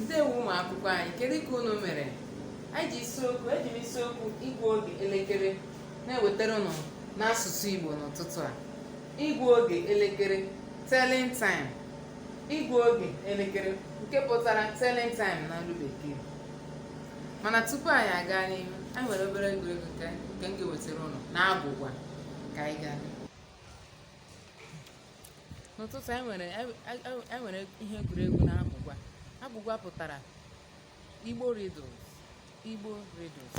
ndewo ụmụ akwụkwọ anyị kedu ka unu mere eji isiokwu eji m isiokwu ịgụ oge elekere na-ewetara unu n'asụsụ igbo n'ụtụtụ a ịgụ oge elekere telling time ịgụ oge elekere nke pụtara telling time na olu bekee mana tupu anyị aga n'ihu anyị nwere obere egwuregwu nke m ga-ewetara unu na agwụgwa ka anyị gaa n'ụtụtụ anyị nwere ihe egwuregwu na agwụgwa agwụgwa pụtara Igbo riddles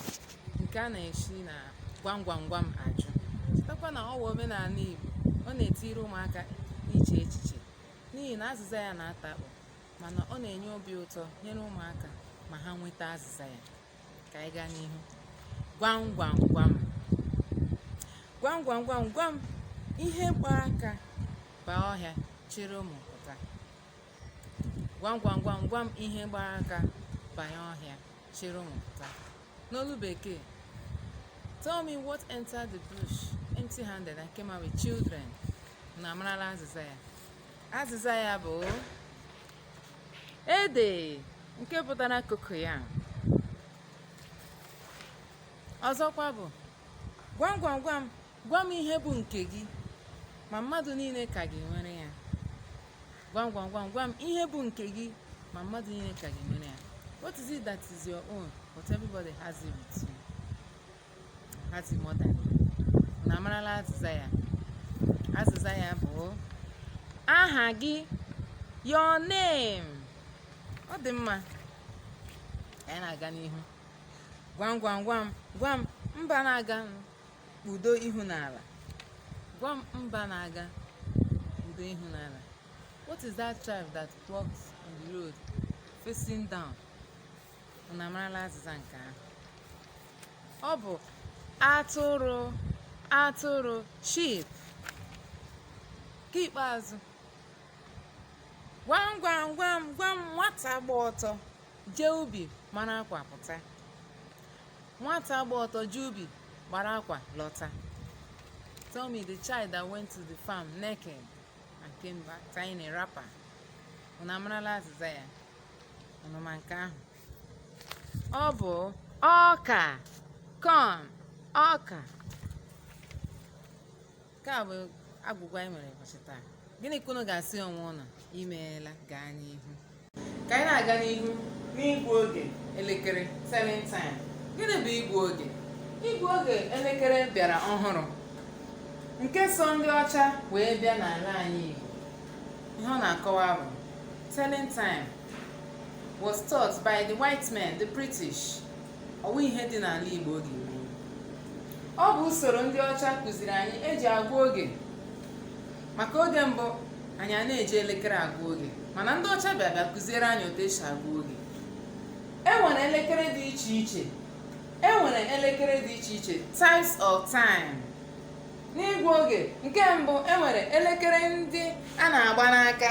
nke a na-esi na gwam gwam gwam ajụ chetakwa na ọ wụ omenala Igbo ọ na-etiri ụmụaka iche echiche n'ihi na azịza ya na-ata akpụ mana ọ na-enye obi ụtọ nyere ụmụaka ma ha nweta azịza ya ka anyị gaa n'ihu gwam gwam gwam gwam gwam gwam gwam ihe gba aka baa ọhịa chịrị ụmụ pụta gwam gwam gwam gwam ihe gbara aka banye ọhịa chịrị ụmụ pụta n'olu bekee tell me what entered the bush empty handed and came out with children unu amarala azịza ya azịza ya bụ ede nke pụtara cocoyam ọzọkwa bụ gwam gwam gwam gwa m ihe bụ nke gị ma mmadụ niile ka gị nwere ya gwa m gwa m gwa m ihe bụ nke gị ma mmadụ niile ka gị nwere ya what is it that is your own but everybody has it with you has it more than you unu amarala azịza ya azịza ya bụ aha gị your name ọ dị mma anyị na-aga n'ihu gwam gwam gwam gwam mba na-aga kpudo ihu n'ala gwa m mba na-aga kpudo ihu n'ala what is that tribe that walks on the road facing down unu amarala azịza nke ahụ ọ bụ atụrụ sheep nke ikpeazụ gwam gwam gwam gwam nwata gba ọtọ jee ubi mara akwa pụta nwata gba ọtọ jee ubi gbara akwa lọta tell me the child that went to the farm naked and came back tying a wrapper unu amarala azịza ya unu ma nke ahụ ọ bụ ọka corn ọka nke a bụ agwụgwa anyị nwere ụbọchị taa gịnị ka unu ga-asị onwe unu imeela gaa n'ihu ka anyị na-aga n'ihu n'ịgụ oge elekere telling time gịnị bụ ịgụ oge ịgụ oge elekere bịara ọhụrụ nke so ndị ọcha wee bịa n'ala anyị Igbo ihe ọ na-akọwa bụ telling time was taught by the white men the British ọ wụ ihe dị n'ala Igbo oge gboo ọ bụ usoro ndị ọcha kụziri anyị eji agwa oge maka oge mbụ anyị a na-eji elekere agwa oge mana ndị ọcha bịa bịa kụziere anyị otu esi agwa oge e nwere elekere dị iche iche e nwere elekere dị iche iche types of time n'ịgụ oge nke mbụ e nwere elekere ndị a na-agba n'aka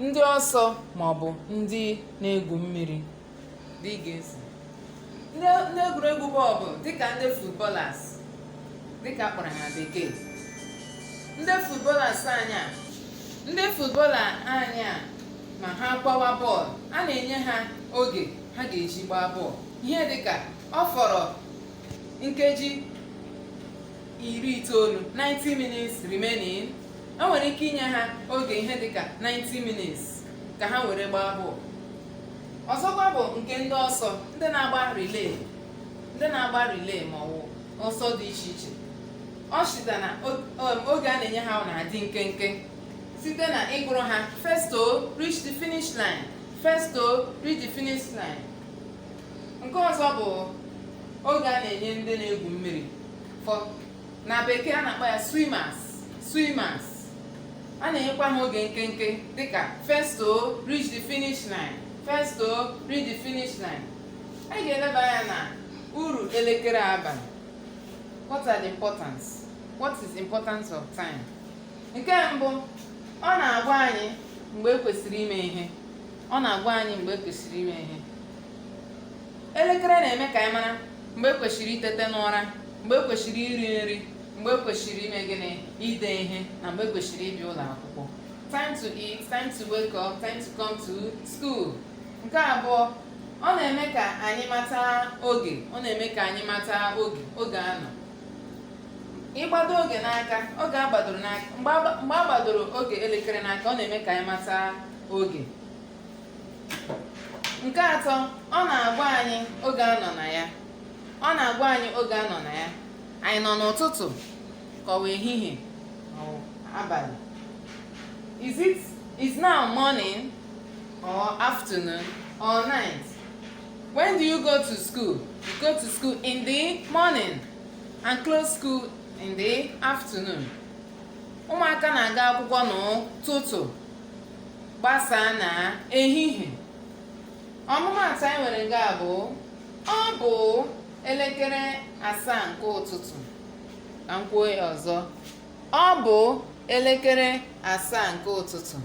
ndị ọsọ ma ọ bụ ndị na-egwu mmiri dị ga-esi ndị ndị egwuregwu bọọlụ dịka ndị footballers dịka a kpọrọ ha na bekee ndị footballers anyị a ndị footballer anyị a ma ha gbawa bọọlụ a na-enye ha oge ha ga-eji gbaa bọọlụ ihe dịka ọ fọrọ nkeji iri itoolu 90 minutes remaining e nwere ike inye ha oge ihe dịka 90 minutes ka ha were gbaa bọọlụ ọzọkwa bụ nke ndị ọsọ ndị na-agba relay ndị na-agba relay ma ọ bụ ọsọ dị iche iche ọ chịta na o- um, oge a na-enye ha ọ na-adị nkenke site na ịgụrụ ha first to reach the finish line first to reach the finish line nke ọzọ bụ oge a na-enye ndị na-egwu mmiri for na bekee a na-akpọ ya swimmers swimmers a na-enyekwa ha oge nkenke dịka first to reach the finish line first to reach the finish line anyị ga-eleba anya na uru elekere baara anyị what are the importance what is the importance of time nke mbụ ọ na-agwa anyị mgbe ekwesịrị ime ihe ọ na-agwa anyị mgbe ekwesịrị ime ihe elekere na-eme ka anyị mara mgbe kwesịrị itete n'ụra mgbe kwesịrị iri nri mgbe kwesịrị ime gịnị ide ihe na mgbe kwesịrị ịbịa ụlọ akwụkwọ time to eat time to wake up time to come to school nke abụọ ọ na-eme ka anyị mata oge ọ na-eme ka anyị mata oge oge a nọ ịgbado oge n'aka oge a gbadoro n'aka mgbe a gbadoro oge elekere n'aka ọ na-eme ka anyị mata oge nke atọ ọ na-agwa anyị oge a nọ na ya ọ na-agwa anyị oge a nọ na ya anyị nọ n'ụtụtụ ka ọ wụ ehihie or abalị is it is now morning or afternoon or night when do you go to school you go to school in the morning and close school in the afternoon ụmụaka na-aga akwụkwọ n'ụtụtụ gbasaa na ehihie ọmụmaatụ anyị nwere nga bụ ọ bụ elekere asaa nke ụtụtụ ka m kwuo ya ọzọ ọ bụ elekere asaa nke ụtụtụ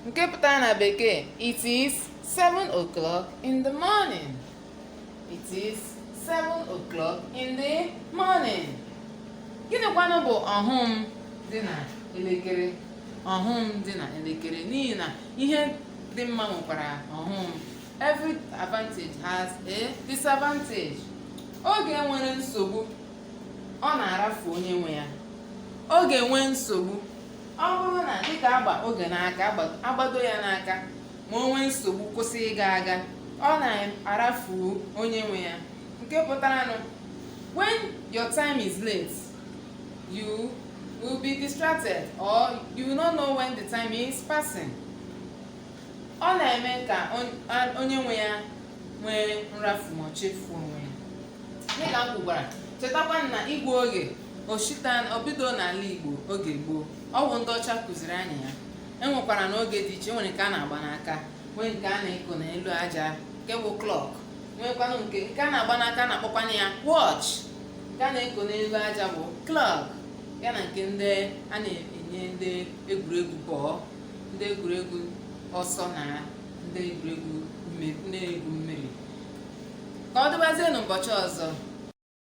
nke pụtara na bekee it is 7 o'clock in the morning It is seven o'clock in the morning. Gịnịkwanụ bụ ọghọm dị na elekere? Ọghọm dị na elekere n'ihi na ihe dị mma nwekwara ọghọm. Every advantage has a disadvantage. Oge nwere nsogbu, ọ na-arafu onye nwe ya. Oge nwee nsogbu, ọ bụrụ na dịka agba oge n'aka, agba- agbado ya n'aka, ma o nwee nsogbu kwụsị ịga aga ọ na-arafu onye nwe ya nke pụtaranụ when your time is late you will be distracted or you will not know when the time is passing ọ na-eme ka onye nwe ya nwee nrafu ma chefuo onwe ya dịka m kwugwara chetakwa na igwe oge oshitan obido n'ala igbo oge gboo ọ bụ ndị ọcha kụziri anyị ya e nwekwaranụ oge dị iche e nwere nke a na-agba n'aka nwee nke a na-eko n'elu aja nke bụ clock nwekwanụ nke nke a na-agba n'aka a na-akpọkwanụ ya watch nke a na-eko n'elu aja bụ clock ya na nke ndị a na-enye ndị egwuregwu bọọlụ ndị egwuregwu ọsọ na ndị egwuregwu mmiri ka ọ dịbazie n'ụbọchị ọzọ